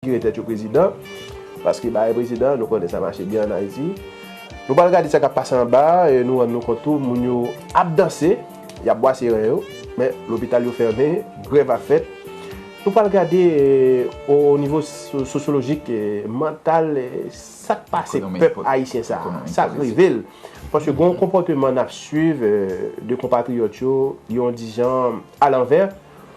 Kire tèt yo prezidan, paske bagay prezidan nou konnen sa mache byen an Ayiti. Nou pral gade sa kap pase anba a e nou rann nou kont tou moun yo ap danse, yap bwase ren yo, men lopital yo fèmen, grèv ap fèt. Nou pral gade o nivo sosyolojik, mantal sak pase pèp ayisyen sa a, sak rive l. Paske gon konpòteman nap swiv de konpatriyòt yo, yon dijan alanvè.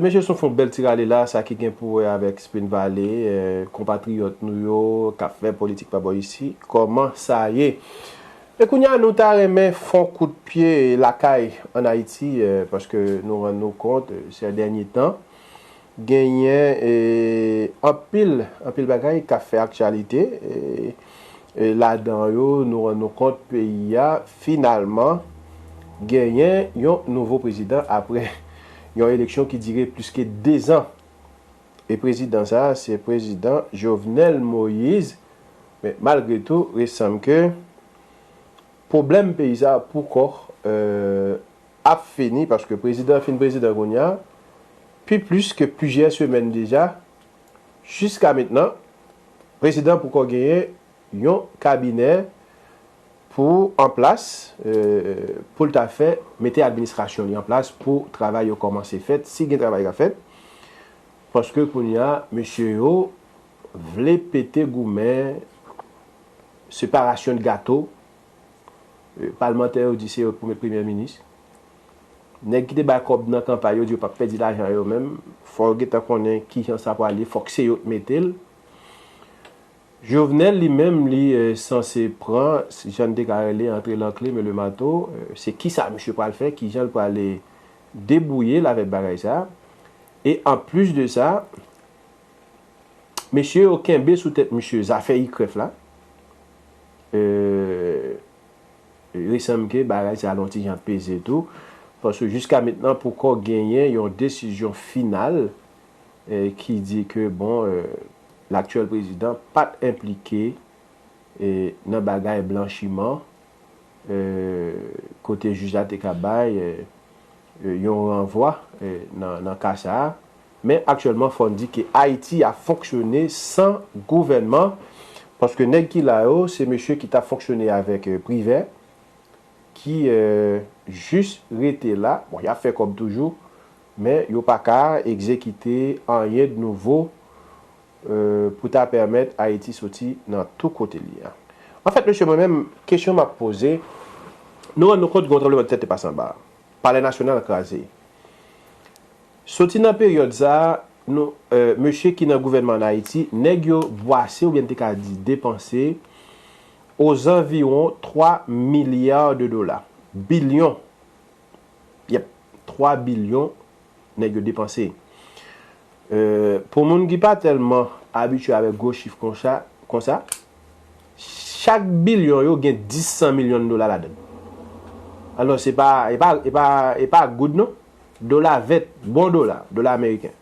Mesye son fon bèl ti rale la sa ki gen pou wè avèk Spin Valley konpatriyòt nou yo kap fè politik pa bò isi kòman sa ye e kounya nou ta renmen fon kout pye lakay an Ayiti paske nou rann nou kont sè dènye tan genyen anpil anpil bagay kap fè aktyalite e Ladan yo, nou rann nou kont peyi a finalman genyen yon nouvo prezidan apre yon eleksyon ki dire plis ke 2 zan. E prezidan sa a se prezidan Jovenel Moise. Men malgre tou, rest sanm ke pwoblèm peyi sa a pouko ap fini paske prezidan fin prezidan kounya pi plis ke plizyè semèn deja Jiska mentnan, prezidan poko genyen yon kabinè pou an plas pou l ta fè mete administrasyon li an plas pou travay yo kòmanse fèt, si gen travay k ap fèt, paske kounye a mesye yo vle pete goumen separasyon de gato, palmantè yo di se yo k pou met premyè minis. Nèg ki te bay kòb nan kanpay yo di yo pap pèdi lajan yo menm fò yo gentan konnen kijan sa prale fòk se yo t metel Jovenel li menm li sanse pran jann te ka rele antre lankle men le mato se kisa misye pral fè kijanl prale debouyel avèk bagay sa e anplis de sa mesye yo kenbe sou tèt misye zafè ikrèf la e. Li sanm ke bagay sa l'on ti jan peze tou, paske jiska mentnan poko genyen yon desizyon final ki di ke bon laktyèl prezidan pat enplike nan bagay blanchiman kote jij la te ka bay yon ranvwa nan ka sa. Men aktyèlman fò n di ke Ayiti ap fonksyone san gouvènman paske nèg ki la yo se mesye ki tap fonksyone avèk Privè ki jis rete la, bon yap fè kòb toujou men yo pa ka egzekite anyen de nouvo pou ta pèmèt Ayiti soti nan tou kote l ye a. Anfèt mesye mwen menm kesyon map poze, nou rann nou kont gen yon tranbleman de tè te pase anba, Palè Nasyonal kraze. Soti nan peryòd sa a, nou, eh, mesye ki nan gouvènman ann Ayiti, nèg yo bwase oubyen n te ka di depanse ozanviwon 3 milliards de dollars, bilyon, yep, 3 bilyon nèg yo depanse. Eh, pou moun ki pa tèlman abitye avèk gwo chif konsa, konsa, chak bilyon yo gen 10 san milyon dola ladan l. Alò, se pa, e pa, e pa, e pa goud non. Dola vèt, bon dola, dola ameriken.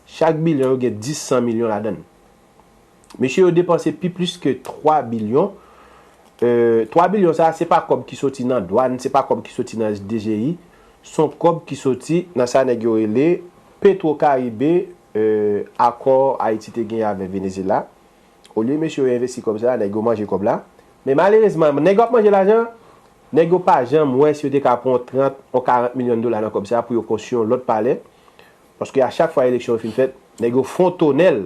Chak bilyon yo gen 10 san milyon ladann. Mesye yo depanse pi plis ke 3 bilyon. 3 bilyon sa a se pa kòb ki soti nan dwàn, se pa kòb ki soti nan SDGI, son kòb ki soti nan sa nèg yo rele Petwokaribe, akò Ayiti te genyen avè Venezela. Olye mesye yo envesti kòb sa, nèg yo manje kòb la. Men malerezman, nèg yo ap manje lajan an, nèg yo pa janm wè si yo te ka pran yon 30, yon 40 milyon dola nan kòb sa pou yo konstwi yon lòt palè. Paske a chak fwa eleksyon yo fin fèt, nèg yo fwontonnen l.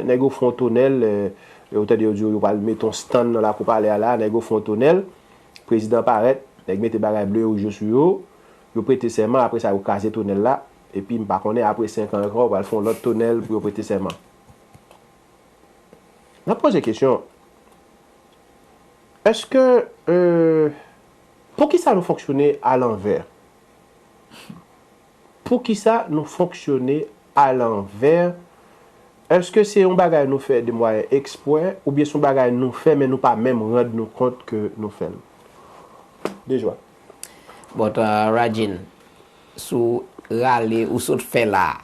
Nèg yo fwontonnen l, ou tande yo di yo yo pral mete yon stand nan lakou palè a la, nèg yo fwontonnen l. Prezidan parèt, nèg mete bagay ble yo je sou yo, yo prete sèman, apre sa yo kraze tonèl la. Epi m pa konnen apre 5 an ankò yo pral fè yon lòt tonèl pou yo prete sèman. N ap poze kesyon, Èske Poukisa nou fonksyone alanvè? Poukisa nou fonksyone alanvè? Èske se yon bagay nou fè demwayen ekspwè oubyen se yon bagay nou fè men nou pa menm rand nou kont ke nou fè l? Dejwa. But Radjin, sou rale ou sot fè la a.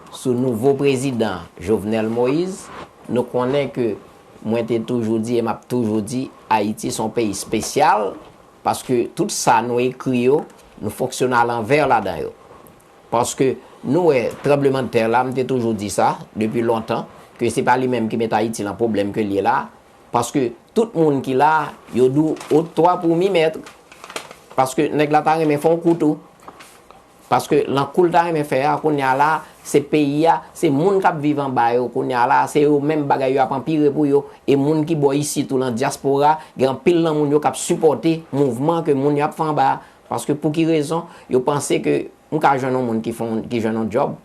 Sou nouvo prezidan Jovenel Moise, nou konnen ke mwen te toujou di e m ap toujou di Ayiti s on peyi spesyal paske tout sa nou ekri yo, nou fonksyone a lanvè ladan yo. Paske nou wè tranblemandtè la, m te toujou di sa depi lontan ke se pa li menm ki met Ayiti lan pwoblèm ke l ye la paske tout moun ki la yo di w otwa pou mi mètre paske nèg la ta renmen fè w kou tou. Paske lan koul ta renmen fè a kounya la se peyi a se moun kap viv anba yo kounya la se yo menm bagay yo ap anpire pou yo e moun ki bò isit ou lan dyaspora gen anpil lan moun yo kap sipòte mouvman ke moun yo ap fè anba a paske pouki rezon yo panse ke m ka jwenn yon moun ki fon ki jwenn yon djòb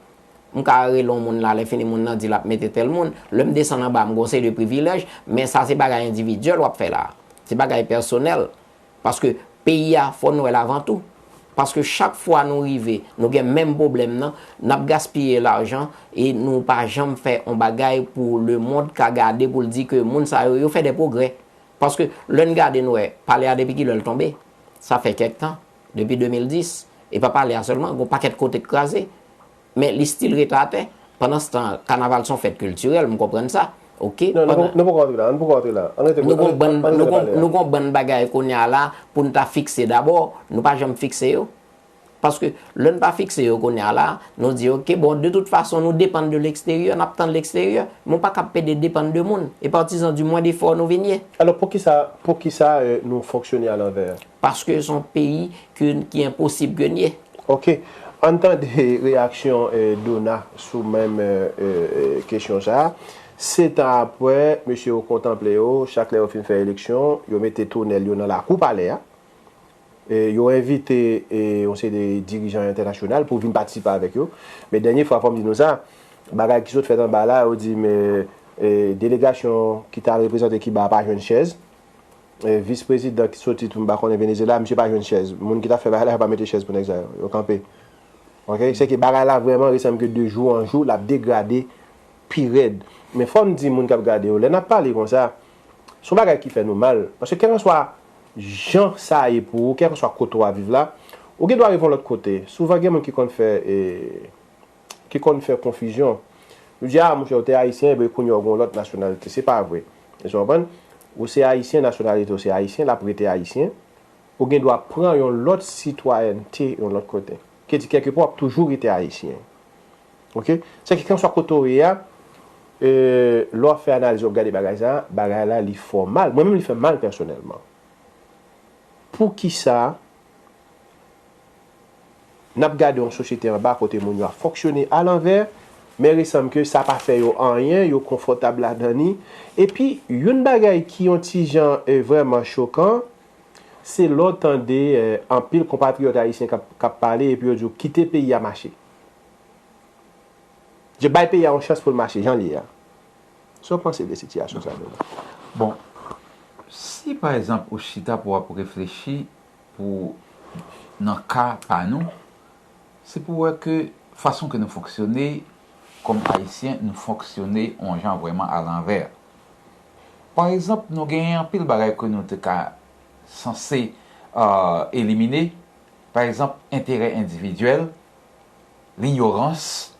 m ka rele yon moun la lè fini moun lan di lap mete tèl moun lèm desann anba m gon seri de privilèj men sa se bagay endividyèl wap fè la se bagay pèsonèl Paske peyi a fò n wè l avan tou. Paske chak fwa nou rive nou gen menm pwoblèm nan, n ap gaspiye lajan e nou pa janm fè yon bagay pou lemond ka gade pou l di ke moun sa yo, yo fè de pwogrè. Paske lè n gade n wè pale a depi ki lè l tonbe. Sa fè kèk tan, depi 2010. E pa pale a sèlman, gen yon pakèt kote k kraze. Men li still ret la atè. Pandanstan, kanaval son fèt kiltirèl, m konprann sa. Ok. Non, nou poko antre la. Ann poko antre la. Ann rete Nou gon bann, nou gon, nou gon bann bagay kounye a la pou n ta fikse dabò. Nou pa janm fikse yo. Paske, lè n pa fikse yo kounye a la, nou di ok, bon, de tout fason nou depann de leksteryè, n ap tann leksteryè. Men w pa kab pede depann de moun. E patizan di mwen defò nou vin ye. Alò, poukisa, poukisa nou fonksyone alanvè? Paske son peyi ki enposib ke n ye. Ok, ann tande reyaksyon Dona sou menm kesyon sa a, Setan apre, mesye yo kontanple yo, chak lè yo fin fè eleksyon, yo mete tonèl yo nan lakou palè a, yo envite yon seri de dirijan entènasyonal pou vin patisipe avèk yo. Men dènye fwa fò m di nou sa, bagay ki sot fèt anba la, yo di m delegasyon ki t al reprezante Kiba a pa jwenn chèz, Vis prezidan ki soti tou m pa konnen Venezyela misye pa jwenn chèz moun ki ta fè bagay la yo pa mete chèz pou nèg sa yo yo kanpe ok sèke bagay la vrèman resanm ke de jou an jou lap degrade pi rèd men fòm di moun kap gade yo lè nap pale konsa son bagay ki fè nou mal paske kèlkanswa jan sa ye pou ou kèlkanswa kote wap viv la ou gen dwa revon lòt kote souvan gen moun ki konn fè e. ki konn fè konfizyon. Yo di, a, monchè, ou te Ayisyen, epi kounye a ou gen yon lòt nasyonalite. Se pa vre. Èske w konprann? Ou se Ayisyen, nasyonalite w se Ayisyen, l ap rete Ayisyen. Ou gen dwa pran yon lòt sitwayènte yon lòt kote. Ki di, kèlkepè w ap toujou rete Ayisyen. Oke? Sa ki, kèlkeswa kote w ye a, e, lè w ap fè analiz, w ap gade bagay sa a, bagay la li fè w mal. Mwen menm li fè m mal pèsonèlman. Poukisa? N ap gade yon sosyete anba kote moun yo ap fonksyone a lanvè, men resanm ke sa pa fè yo anyen, yo konfòtab ladan ni. Epi, youn bagay ki yon ti jan vrèman chokan, se lè w tande anpil konpatriyòt ayisyen k ap pale epi yo di w kite peyi a mache. Je bay peyi a yon chans pou l mache jan l ye a. Sa w panse de sitiyasyon sa a, Donald? Bon, si pa ekzanp ou chita pou w ap reflechi Pou nan ka pa nou, se pou wè ke fason ke nou fonksyone kòm Ayisyen, nou fonksyone yon jan vrèman alanvè. Pa egzanp, nou genyen anpil bagay ke nou te ka sanse elimine, pa egzanp, enterè endividyèl, linyorans,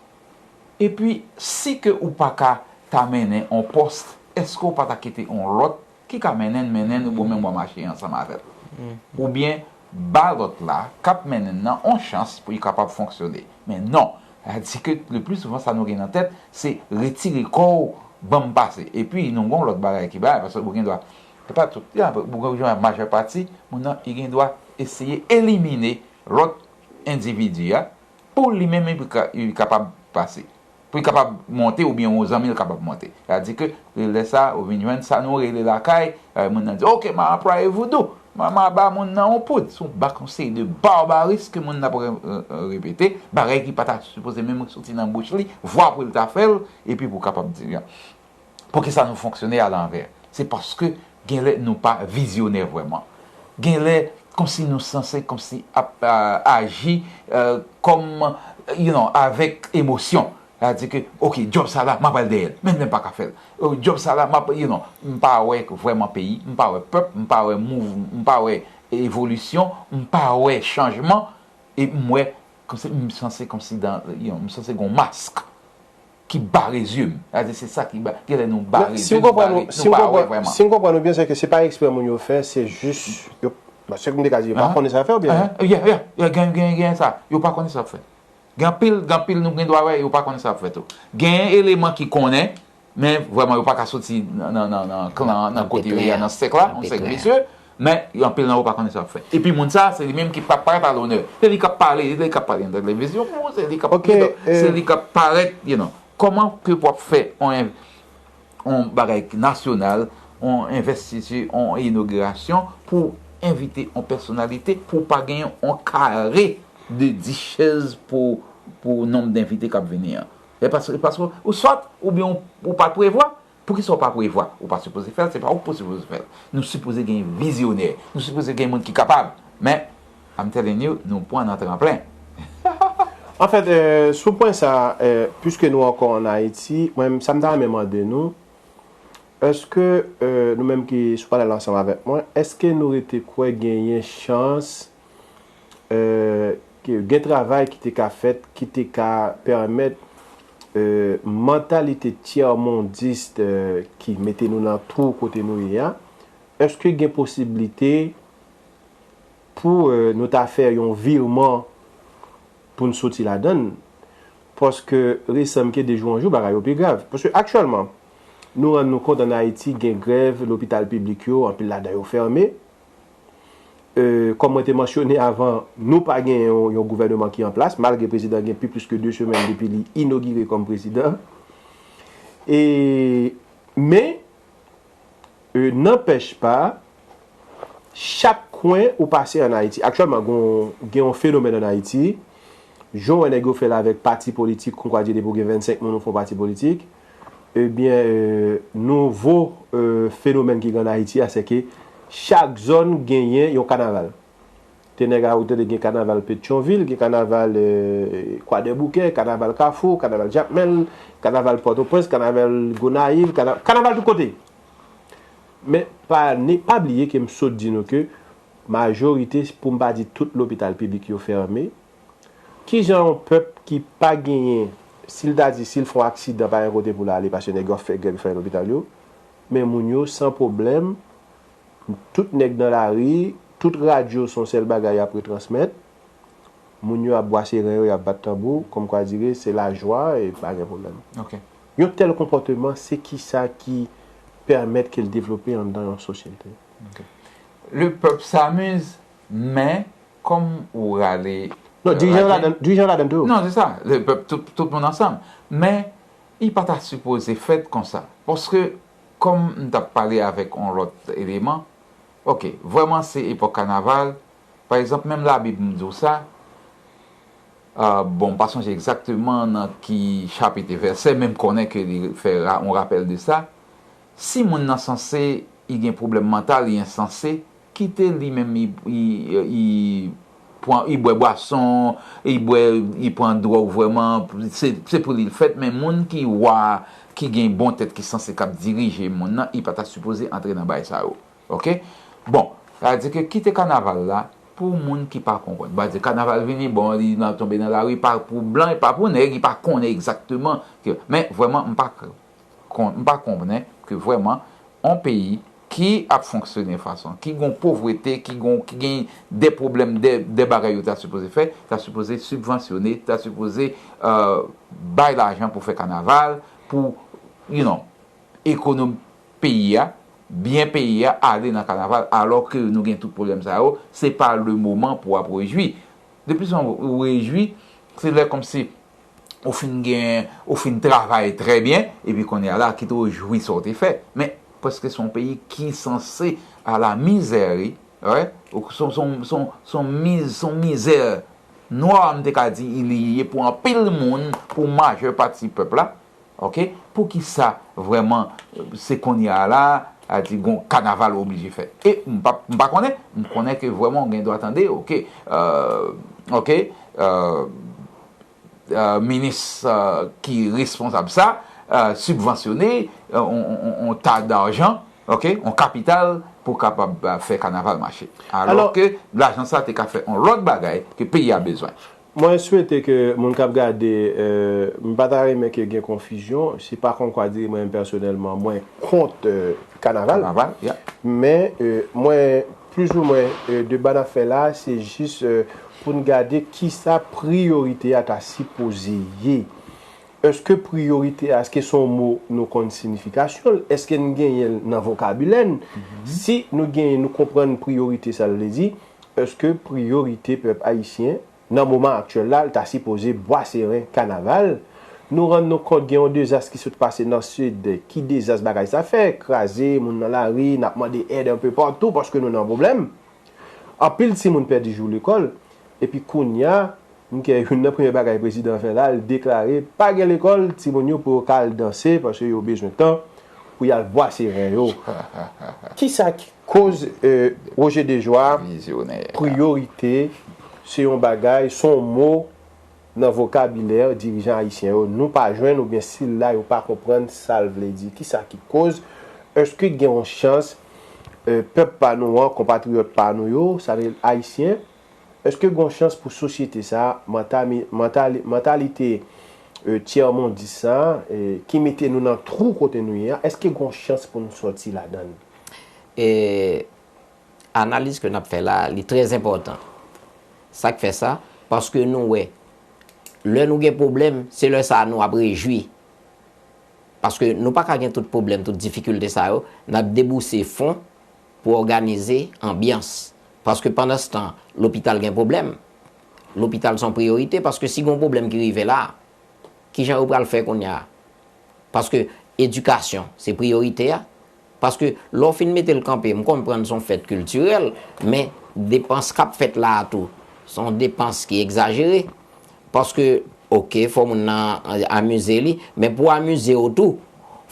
epi si ke ou pa ka ta mennen yon pòs, èske ou pa ta kite yon lòt ki ka mennen n mennen n ou bon menm wa mache ansanm avè l oubyen ba lòt la k ap mennen n nan on chans pou li kapab fonksyone men non sa di ke le pli souvan sa nou gen nan tèt se retire kò w ban m pase epi nou gon lòt bagay ki bay paske ou gen dwa se pa tout ya gen majè pati moun nan li gen dwa eseye elimine lòt endividi a pou li menm li kapab pase. pou li kapab monte oubyen yon zanmi l kapab monte. Sa di ke lè sa ou vin jwenn sa nou rele lakay, epi moun nan di ok ma anplwaye voudou, ma ma ba moun nan yon poud. Son bak yon seri de barbarism ke moun nan ap repete, bagay ki pa ta sipoze menm soti nan bouch li, vwa pou l ta fè l, epi pou kapab di l. Poukisa nou fonksyone alanvè? Se paske genlè nou pa vizyonè vrèman. Genlè kòmsi nou sanse kòmsi ap aji kòm you no avèk emosyon. Sa vle di ke ok djòb sa la m ap al dèyè l menm lè m pa ka fè l. Djòb sa la m ap you no m pa wè vrèman peyi, m pa wè pèp, m pa wè mouv, m pa wè evolisyon, m pa wè chanjman e m wè kòmsi m sanse kòmsi dan you no m sanse gen yon mask ki bare zye m. Sa vle di se sa ki bare, gen lè nou bare zye, nou bare, nou pa wè vrèman. Si m konprann ou byen, se ke se pa ekspre moun yo fè, se jis yo, bon se ke m te ka di, yo pa konnen sa y ap fè ou byen? Ya, ya, ya, gen, gen, gen sa, yo pa konnen sa y ap fè. Gen anpil, gen anpil nou gen dwa wè, yo pa konnen sa y ap fè tou. Gen eleman ki konnen, men vrèman yo pa ka soti nan, nan, nan klan an, nan kote yo ye a, nan sèk la, nan sèk visye. Men, yo anpil nan yo pa konnen sa yap fè. Epi moun sa, se li menm ki pa parèt a lonè. Se li kap pale, se li kap pale nan televizyon pou ou, se li kap Ok, e. Se li kap parèt, you know. Kòman ke wap fè on en, on bagay ki nasyonal, on envèstiti, on inogirasyon pou w envite on pèsonalite pou w pa genyen on kare de 10 chèz pou, pou nonb denvite kap vini an? E paske, paske ou sòt oubyen ou pa t prevwa? Poukisa ou pa prevwa? Ou pa sipoze fè l, se pa ou ki sipoze fè l. Nou sipoze gen vizyonè, nou sipoze gen moun ki kapab. Men, I'm telling you, nou pran nan tranplen. Anfèt, sou pwen sa a, piske nou ankò ann Ayiti, mwen menm, sa m ta renmen mande nou, èske nou menm ki sou panèl la ansanm avèk mwen, èske nou rete kwè genyen chans ke gen travay ki te ka fèt, ki te ka pèmèt Mantalite tyèmondist ki mete nou nan twou kote nou ye a, èske gen posiblite pou nou ta fè yon virman pou n soti ladan l? Paske resanmke de jou an jou bagay yo pi grav. Paske aktyèlman, nou rann nou kont ann Ayiti gen grèv lopital piblik yo, anpil ladan yo fèmen. Kòm mwen te mansyone avan, nou pa gen yon gouvèneman ki an plas, malgre prezidan an gen pi plis ke 2 semèn depi li inogire kòm prezidan. E, men, nanpèch pa, chak kwen ou pase an Ayiti, aktyèlman gen yon fenomèn an Ayiti, jan w wè nèg yo fè l avèk pati politik, konkwadi depi w gen 25 moun ou fè yon pati politik, Ebyen nouvo fenomèn ki gen an Ayiti a sèke chak zòn genyen yon kanaval. Te nèg a ou tande gen kanaval Petyonvil, gen kanaval Kwadèboukè, kanaval Kafou, kanaval Jakmèl, kanaval Pòtoprens, kanaval Gonayiv, kanaval, kanaval tout kote. Men pa ne pa bliye ke m sot di nou ke majorite pou m pa di tout lopital piblik yo fèmen. Kijan yon pèp ki pa genyen, si l ta di si l fè yon aksidan pa gen kote pou l ale paske nèg yo ap fè grèv yo fè nan lopital yo, men moun yo san pwoblèm, tout nèg nan lari, tout radyo s on sèl bagay y ap retransmèt, moun yo ap bwase ren yo, y ap bat tanbou, kòmkwadire se lajwa e pa gen pwoblèm. Yon tèl konpòteman se kisa ki pèmèt ke l devlope anndan yon sosyete? Lepèp samuz men Kòm ou rale raje. Non, dirijan yo ladan, dirijan yo ladan tou. Non, se sa, le pèp tout, tout moun ansanm. Men, li pa ta sipoze fèt konsa. Paske, kòm m t ap pale avèk yon lòt eleman, ok, vrèman se epòk kanaval, pa egzanp, menm labib m di w sa, bon, m pa sonje egzakteman nan ki chapit e vèsè, men m konnen ke li fè yon rapèl de sa, si moun nan sanse, li gen pwoblèm mantal, li ensanse, Kite li menm li bwè bwason, li bwè, li pran dwòg vrèman, se pou li l fèt men moun ki wa a ki gen bon tèt ki sanse kap dirije moun nan li pa ta sipoze antre nan baay sa yo ok bon sa vle di ke kite kanaval la pou moun ki pa konprann m pa di kanaval vini bon li tonbe nan lari pa pou blan e pa pou nèg li pa konnen egzakteman men vrèman m pa kon, m pa konbnen ke vrèman on peyi ki ap fonksyone fason, ki gon povrete, ki gon, ki gen de pwoblèm, de, de bagay yo ta sipoze fè, ta sipoze sibvansyone, ta sipoze bay lajan pou fè kanaval, pou, you know, ekonom peyi a, byen peyi a ale nan kanaval, alò ke nou gen tout pwoblèm sa yo, se pa le moman pou ap rejwi. Depi son ou rejwi, se lè konmsi ou fin gen, ou fin travay trè byen, epi kounye a la, kite ou jwi sa ou te fè. Men, paske se yon peyi ki sanse a la mizè wi, wè, se yon miz, se yon mizè nwa m te ka di li ye pou anpil moun, pou majè pati pèp la, Ok poukisa vrèman se konnya la a di gon kanaval ou oblije fè e m pap m pa konnen m konnen ke vrèman ou gen dwa tande ok euh ok euh minis ki responsab sa sibvansyone on ta darjan ok on kapital pou kapab fè kanaval mache alò ke lajan sa te ka fè on lòt bagay ke peyi a bezwen. Mwen swete ke moun kap gade m pa ta renmen ke gen konfizyon se pa kon kwa dire mwen menm pèsonèlman mwen kont kanaval men mwen plis ou mwen deba nap fè la se jis pou n gade kisa priyorite a ta sipoze ye eske priyorite a eske son mo nou konn sinifikasyon l eske n genyen l nan vokabilè n si nou genyen nou konprann priyorite sa l vle di Eske priyorite pèp ayisyen nan moman aktyèl la ta sipoze bwa seren, kanaval? Nou rann nou kont gen yon dezas ki sot pase nan sid, ki dezas bagay sa fè, kraze moun nan lari, n ap mande èd anpe patou paske nou nan pwoblèm. Anpil timoun pèdi jou lekòl epi kounya M kè youn nan premyè bagay prezidan fè la l deklare pa gen lekòl timoun yo pou yo ka al danse paske yo bezwen tan pou y al bwase ren yo kisa ki koz Roger Dejoie priyorite se yon bagay se yon mo nan vokabilè dirijan ayisyen yo nou pa jwenn oubyen sil la yo pa konprann sa l vle di kisa ki koz èske gen yon chans pèp pa nou an konpatriyòt pa nou yo sa vle ayisyen. Eske gon chans pou sosyete sa a, mantami, mantali, mantalite e tyèmondis sa a e ki mete nou nan twou kote nou ye a, eske gon chans pou n sòti ladan l? E analiz ke n ap fè la a, li trè zenpòtan. Sa k fè sa? Paske nou wè, lè nou gen pwoblèm, se lè sa a nou ap rejwi. Paske nou pa ka gen tout pwoblèm, tout difikilte sa yo, n ap debouse fon Pou òganize anbyans. Paske pandanstan, lopital gen pwoblèm. Lopital se yon priyorite paske si gen yon pwoblèm ki rive la, ki jan yo pral fè kounya? Paske edikasyon se priyorite a. Paske lè w fin mete l kanpe, m konprann se yon fèt kiltirèl, men depans k ap fèt la a tou, se yon depans ki egzajere. Paske ok fò moun nan amize li, men pou amize w tou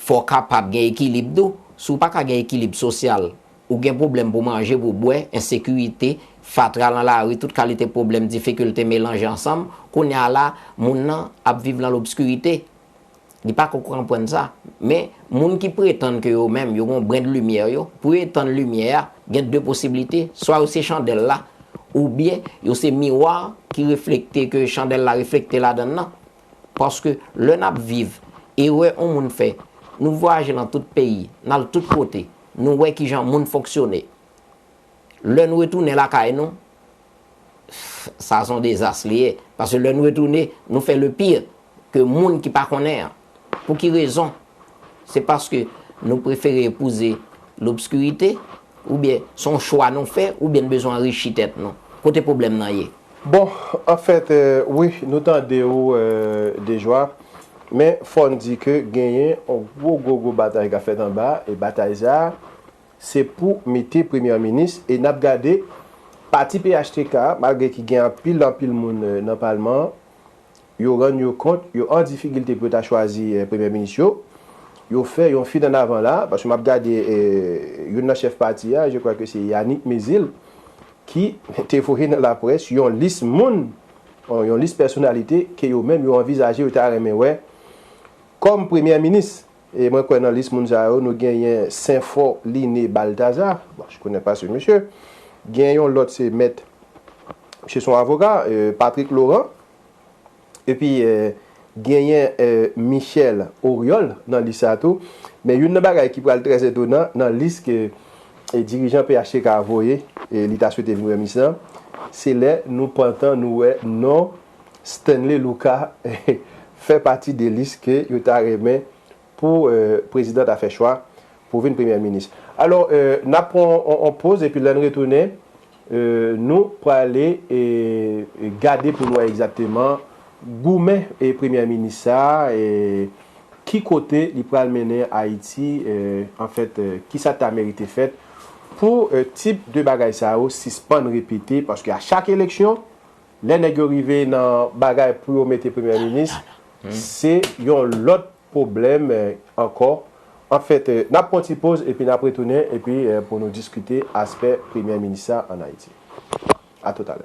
fò kapab gen ekilib tou, si w pa ka gen ekilib sosyal, ou gen pwoblèm pou manje, pou bwè, ensekirite, fatra lan lari, tout kalite pwoblèm, difikilte melanje ansanm, kounye a la moun nan ap viv lan lobskirite. Li pa ko kranpwann sa. Men, moun ki pretann ke yo menm, yo gen yon brin de limyè yo, pou yo etann limyè a, gen de posiblite, swa yo se chandèl la, oubyen yo se miwa ki reflekte, ke chandèl la reflekte ladann nan. Paske, lè n ap viv, erè yon moun fè, nou vwayaje nan tout peyi, n al tout kote, nou wè kijan moun fonksyone. Lè nou retounen lakay nou, sa son dezas li ye paske lè nou retounen nou fè le pire ke moun ki pa konnen an pou ki rezon se paske nou prefere epouze lobskirite oubyen son chwa nou fè oubyen nou bezwen anrichi tèt nou kote pwoblèm nan ye. Bon an fèt wi nou tande ou Dejwa men fòn di ke genyen yon gwo gwo gwo batay kap fèt anba e batay sa Se pou mete premyè minis e nap gade pati phtk a malgre ki gen anpil anpil moun nan palman an yo rann yo kont yo an difikilte pou yo ta chwazi premyè minis yo yo fè yon fin annavan la paske map gade youn nan chèf pati a je kwa ke se Yanick Mezile ki te voye nan laprès yon lis moun yon lis pèsonalite ke yo menm yo anvizaje yo ta renmen wè kòm premyè minis. E mwen kwè nan lis moun sa yo nou genyen Senfò Liné Baltaza, bon je connais pas ce monsieur, gen yon lòt se mèt, misye son avoka, Patrick Laurent, epi genyen Michel Oriol nan lis sa tou. Men youn nan bagay ki pral trè etonan nan lis ke dirijan phtk a voye, li ta swete vin wè minis lan, se lè nou pantan nou wè non Stanley Lucas fè pati de lis ke yo ta renmen pou prezidan ta fè chwa pou vin premyè minis. Alò n ap pran yon poz epi lè n retounen nou prale gade pou n wè egzakteman goumen premyè minis sa a ki kote li pral mennen Ayiti anfèt kisa ta merite fèt pou tip de bagay sa yo sispann repete paske a chak eleksyon Lè nèg yo rive nan bagay pou yo mete premyè minis, se yon lòt pwoblèm ankò. Anfèt, n ap pran yon ti poz epi n ap retounen epi pou nou diskite aspè premyè minis sa an Ayiti. A tout alè.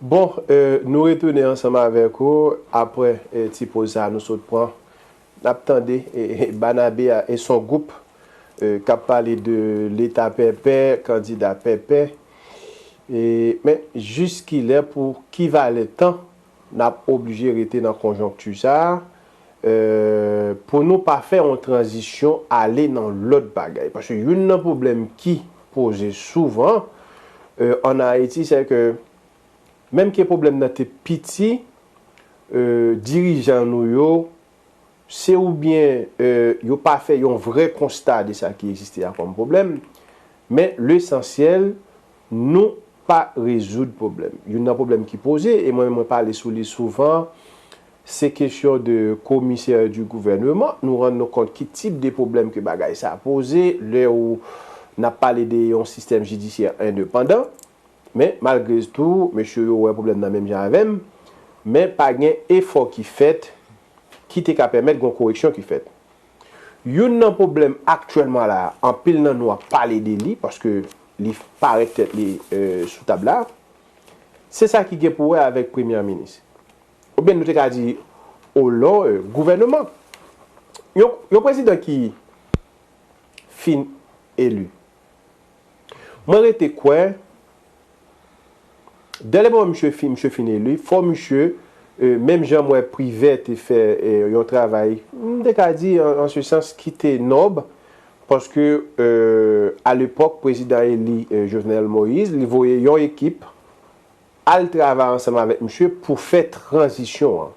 Bon, nou retounen ansanm avèk ou apre ti poz sa a nou sot pran. N ap tande Banabe a, e s on gwoup k ap pale de Leta pèpè, kandida pèpè. Men, jiskilè, pou ki valè tan n ap oblije rete nan konjonkti sa a pou nou pa fè yon tranzisyon ale nan lòt bagay. Paske youn nan pwoblèm ki poze souvan an Ayiti sè ke menm ke pwoblèm nan te piti, dirijan nou yo se oubyen yo pa fè yon vrè konsta de sa ki egziste a kòm pwoblèm, men lesansyèl nou pa rezoud pwoblèm. Youn nan pwoblèm ki poze, e mwen menm mwen pale sou li souvan, se kesyon de komisè di gouvèneman. Nou rann nou kont ki tip de pwoblèm ke bagay sa poze, lè ou n ap pale de yon sistèm jidisyè endepandan. Men, malgre s tou, mesye yo wè pwoblèm nan menm jan avè m, men pa gen efò ki fèt ki te ka pèmèt gon koreksyon ki fèt. Youn nan pwoblèm aktyèlman la, anpil nan nou ap pale de li, paske li parèt tèt li sou tab la, se sa ki gen pou wè avèk premyè minis. Oubyen nou te ka di, olò gouvèneman. Yon prezidan ki fin eli. Mwen rete kwè, dè le moman misye fin misye fin eli, fò misye, menm jan m wè Privè te fè yon travay, m te ka di an se sans ki te nòb, paske alepòk prezidan eli Jovenel Moïse, li voye yon ekip al travay ansanm avèk misye pou fè tranzisyon an.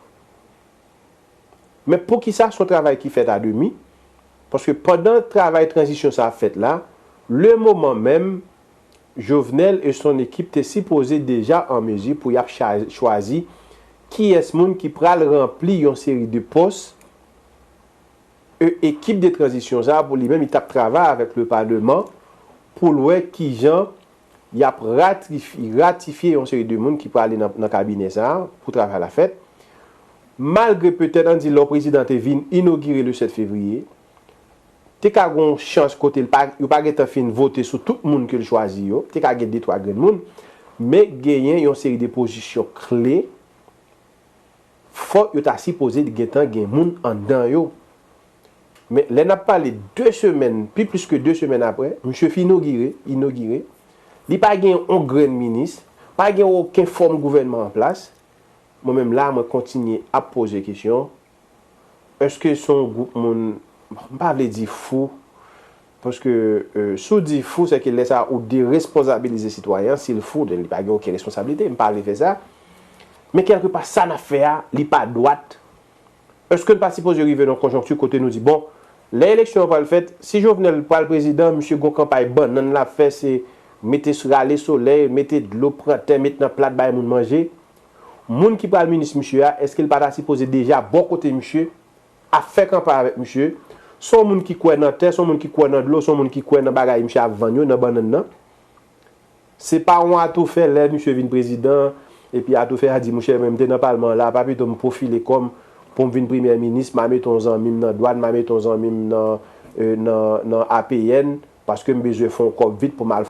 Men poukisa son travay ki fèt a demi? Paske pandan travay tranzisyon sa ap fèt la, le moman menm, Jovenel e son ekip te sipoze deja an mezi pou yap chwazi kiyès moun ki pral ranpli yon seri de pòs e ekip de tranzisyon sa pou li menm li tap travay avèk le paleman poul wè kijan Y ap ratifye yon seri de moun ki prale nan kabinè sa a pou travay la fèt. Malgre petèt an di lò prezidan te vin inogire le 7 fevriye, te ka gen yon chans kote yo pa gentan fin vote sou tout moun ke l chwazi yo, te ka gen de twa grenn moun, men genyen yon seri de pozisyon kle fò yo ta sipoze gentan gen moun anndan yo. Men, lè n ap pale de semèn, pi plis ke de semèn apre, misye fin inogire, inogire, li pa gen yon grenn minis, pa gen oken fòm gouvènman an plas, mwen menm la a mwen kontinye ap poze kesyon, èske se yon gwoup moun, m pa vle di fou, paske si w di fou, se ke lè sa a ou deresponzabilize sitwayen an, si l fou, donk li pa gen oken responsablite, m pa vle fè sa, men kèlke pa sa n ap fè a, li pa dwat, Eske n pa sipoze rive nan konjonkti kote nou di bon, lè eleksyon an pral fèt, si Jovenel pral prezidan, misye gon kanpay bannann l ap fè se mete rale solèy, mete dlo, pran tè met nan plat bay moun manje. Moun ki pral minis misye a, eske l pa ta sipoze deja bò kote misye, ap fè kanpay avèk misye? Se yon moun ki kwè nan tè, se yon moun ki kwè nan dlo, se yon moun ki kwè nan bagay misye ap vann yo, nan bannann nan. Se pa yon atoufè lè misye vin prezidan epi atoufè a di mouche men m te nan palman an la pa pito m pwofile kò m pou m vin premyè minis ma mete yon zanmi m nan dwàn ma mete yon zanmi m nan nan APN paske m bezwen fè yon kòb vit pou m al